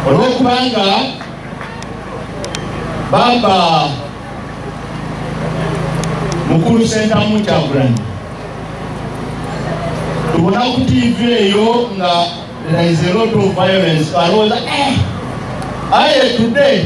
olwokubanga bamba mukulu sentamu kyagulanyi tubona ku tv eyo nga there is a lot of violence alowooza eh, aye today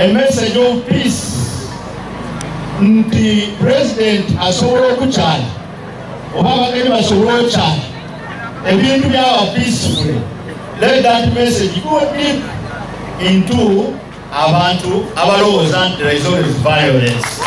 a message of peace nti president asobola okukyala oba abageni basobola okyala ebintu byaba peaceful let that message go deep into abantu abalowooza nti there is always violence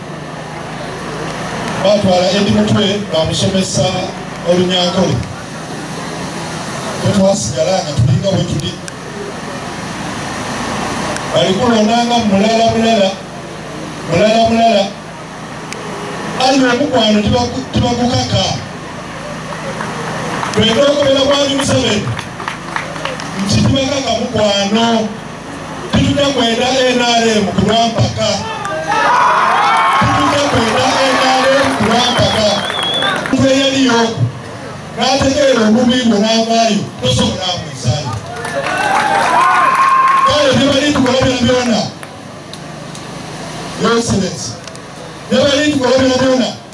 batwala edi mutwe bamusomesa olunyankole tetwasigala nga tulinga wetuli balikulondanga mulala mulala mulala mulala ali omukwano tibagukaka bwenda okubera mwali museveni nti tibakaka mukwano Tujja kwenda NRM ku lwampaka. Tujja kwenda NRM ku lwampaka. Omuntu eyaliyo oku n'ategeera obubi bwe n'avaayo tosobola amwezaayo. Kale bye bali tukola byona byona, Your Excellency, bye bali tukola byona byona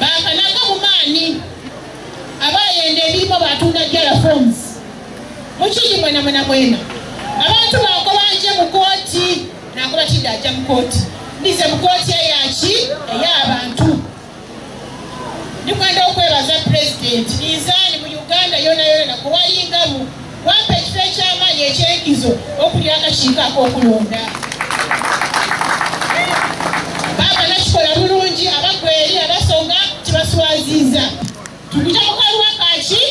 bakanaga mu maanyi abayenda ebirimo batunda jala forms mukiri mwena mwena mwena abantu bakobanje mu kooti nakuba kidde ajja mu kooti ndize mu kooti eyaki ey'abantu ndikwenda okwebaza pulezidenti ninzaani mu uganda yona yona nakuwalingamu Wampa ekifo eky'amaanyi eky'enkizo okulira akakiiko ak'okulonda. Baaba nakikola bulungi abagwa eri abasonga kibaswaziiza. Tukija mu kaluwa kaki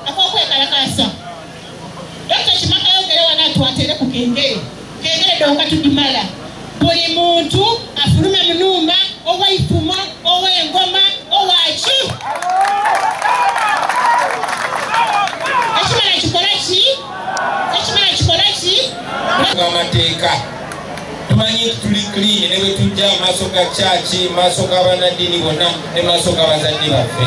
ak'okwekalakaasa. Dokita Kimaka yogere wano atwatere ku kengere. Kegeredde wakati Dumala buli muntu afulume munumba owaifumo owengoma owaki ekimala kikolaki ekimala kikolaki amateeka tumanyi nti tuli clean ne bwe tujja amaaso ga kyaki maaso g'abanaddiini bonna ne maaso g'abazadde baffe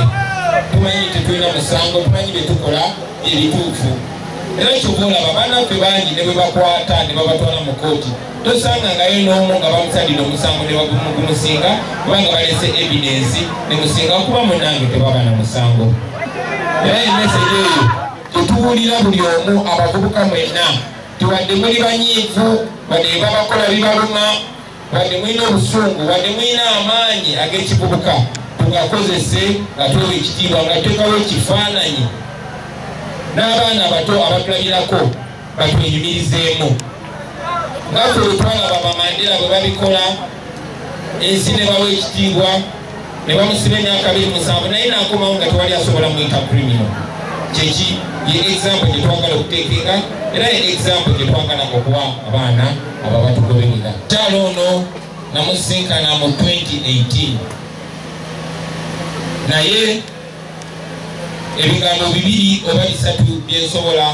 tumanyi nti tulina musango tumanyi bye tukola ebituufu era kyova olaba banaffe bangi ne bwebakwata ne babatwala mu kooti tosanga ngayo n'omu nga bamusalira omusango ne bagumusinga kubanga balese evidensi ne musinga kuba munange tebaba na musango era emesege eyo tetuwulira buli omu abavubuka mwenna tubadde muli banyiivu badde babakola bibaluma wadde mulina obusungu wadde mulina amaanyi ag'ekivubuka tugakozese nga tuwa ekitiibwa nga tekawo ekifaananyi n'abaana abato abatulabirako batwenyumirizeemu nga ffe wetwalaba bamandera bwe babikola ensi ne bawa ekitiibwa ne bamusiba emyaka abiri musanvu naye nakomawo nga tewali asobola muyita krimino kyeki ye example gyetwagala okuteekenga era ye example gyetwagala okuwa abaana ababatugoberera kyalo ono namusinkana mu 2018 naye ebigambo bibiri oba bisatu byensobola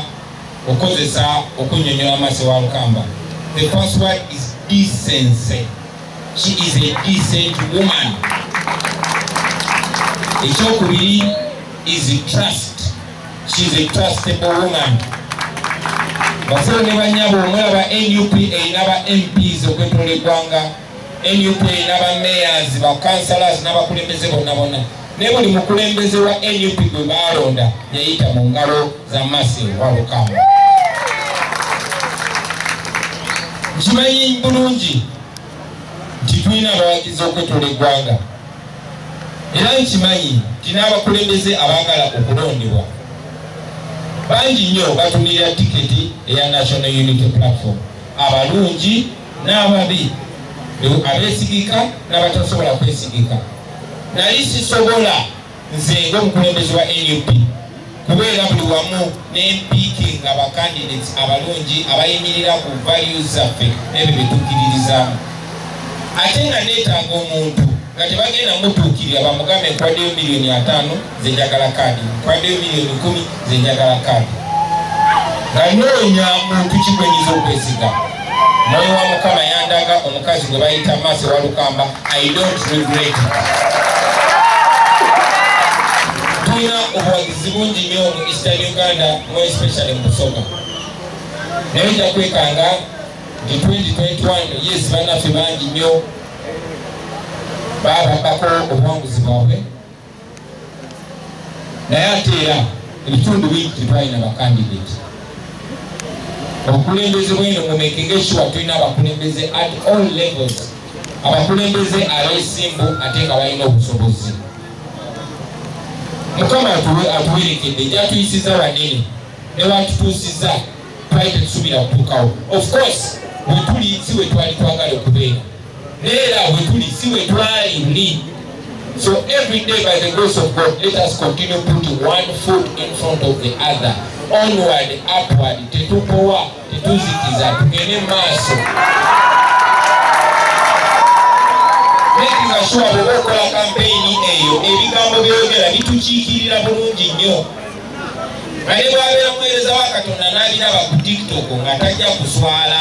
okukozesa okunyonyola amaaso wa lukamba the first word is decency she is a decent woman ekyokubiri is trust she is a trustable woman basebo ne banyabo omulaba nup erina ba mps okwetola eggwanga nup erina ba mayors ba councilors n'abakulembeze bonna bonna ne buli mukulembeze wa nup gwe baalonda yayita mu ngalo za masi walukamba nkimanyi bulungi nti tulina abawagizi okwetula eggwanga era nkimanyi nti n'abakulembeze abaagala okulondebwa bangi nnyo batumirira tiketi eya national unity platform abalungi n'ababi abeesigika n'abatasobola kwesigika nali sisobola nze ngaomukulembezi wa nup kubeera buli wamu n'empiiki nga bakandidates abalungi abayimirira ku values zaffe n'ebyo byetukiririzamu ate nga neetaaga omuntu nga tebagenda mutuukirira bamugambe nkwaddeyo miliyoni ataano zenjagala kaadi nkwaddeyo miliyoni kumi nze njagala kaadi nga noonya muntu kigwenyiza okwesiga mwoyo wa mukama yandaga omukazi gwe bayita maasi walukamba i don't regret tulina obuwagizi bungi nyo mu eastern uganda mu especially mu busoga naye nja kwekanga nti 2021 yes banaffe bangi nyo bababako obuwanguzi bwabwe naye ate era ebitundu bingi tetwalina bakandidate obukulembeze bwino mumekenge sure tulina abakulembeze at all levels abakulembeze abesimbu ate nga balina obusobozi mukama atuwerekedde gyatuyisiza banene newatutuusiza twali tetusubira kutuukawo of course wetuli si wetwali twagala okubeera neera wetuli si wetwali ndi so every day by the grace of god let us continue putting one foot in front of the other onward upward tetupowa tetuzikiza tugende maaso nekingashuwa bwoba okola kampeyini eyo ebigambo byogera bitukiikirira bulungi nnyo naye bwabeera muweereza wa katonda n'abiraba ku tiktok nga tajja kuswala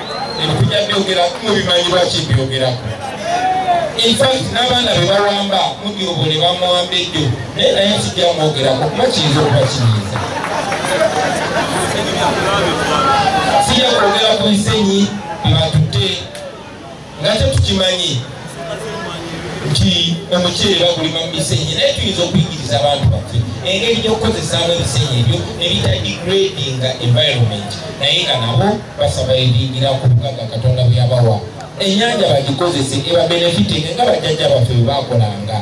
ebitujja byogera mubimanyi lwaki byogera infact n'abaana be bawamba mudyobo ne bamuwamba eddo naye naye kijja mwogerako kuba kiyinza okuba kiyinza sijja kwogera ku nsenyi bebatutte nate tukimanyi nti omuceere bagulima mu bisenyi naye tuyinza okuyigiriza abantu baffe engeri gyokukozesaamu ebisenyi ebyo nebita degradinga environment naye nga nabo basaba ebingira ku bugaga katonda bweyabawa enyanja bagikozese ebabenefitinga nga bajjajja baffe bwebakolanga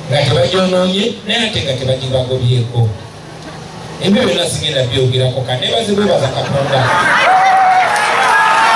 nga tebagyononye naye ate nga tebagibagobyeko ebyo byonna sigenda byogerako kanebazibwebaza katonda